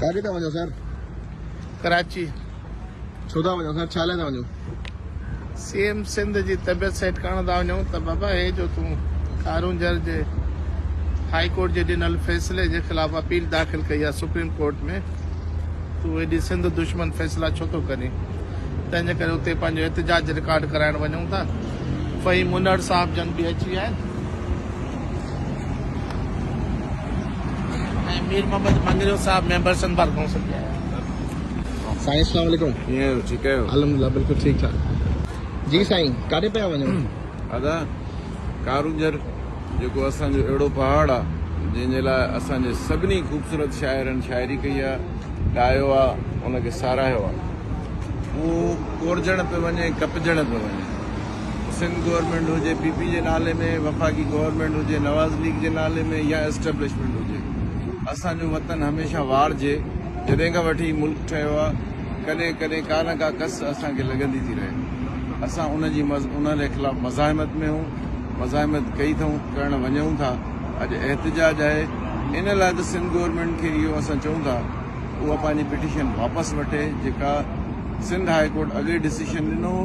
ڪاڏي ٿا وڃو سر؟ ڪراچي. ڇو ٿا وڃو سر؟ ڇا لاء ٿا وڃو؟ سي ايم سنڌ جي طبيعت سيٽ ڪرڻ ٿا وڃون ته بابا هي جو تون ڪارونجهر جي هائي ڪورٽ جي ڏنل فيصلي جي خلاف اپيل داخل ڪئي آهي سپريم ڪورٽ ۾ تون ايڏي سنڌ دشمن فيصلا ڇو ٿو ڪرين تنهن جي ڪري اتي پنهنجو احتجاج رڪارڊ ڪرائڻ وڃون ٿا فهيم منڙ صاحب جن به اچي ويا آهن ۽ مير محمد مڱريو صاحب ميمبر سنڀال ڪائونسل جي آهي. سائين اسلام عليڪم ڪيئن آهيو ٺيڪ آهيو الحمدلله بلڪل ٺيڪ ٺاڪ جي سائين ڪاڏي پيا وڃو. ادا ڪارونجهر جيڪو اسان جو اهڙو پهاڙ آ جنهن جي لاء اسان جي سڀني خوبصورت شاعرن شاعري ڪئي آ ڳايو آ ان کي ساراهيو آ هو ڪورجڻ پيو وڃي ڪپجڻ پيو وڃي. سنڌ گورنمينٽ هجي پي پي جي نالي ۾ وفاقي گورنمينٽ هجي نواز ليگ جي نالي ۾ يا اسٽيبلشمينٽ هجي اسان جو وطن هميشه وار جي جڏهن کان وٺي ملڪ ٺهيو آ ڪڏهن ڪڏهن ڪا نه ڪا ڪس اسان کي لڳندي ٿي رهي اسان ان جي انهن جي خلاف مزاحمت ۾ هون مزاحمت ڪئي ٿئون ڪرڻ وڃون ٿا اڄ احتجاج آهي ان لاء ته سنڌ گورنمينٽ کي اهو اسان چئون ٿا اها پنهنجي پٽيشن واپس وٺي جيڪا سنڌ هاء ڪورٽ اڳي ڊسيشن ڏنو هو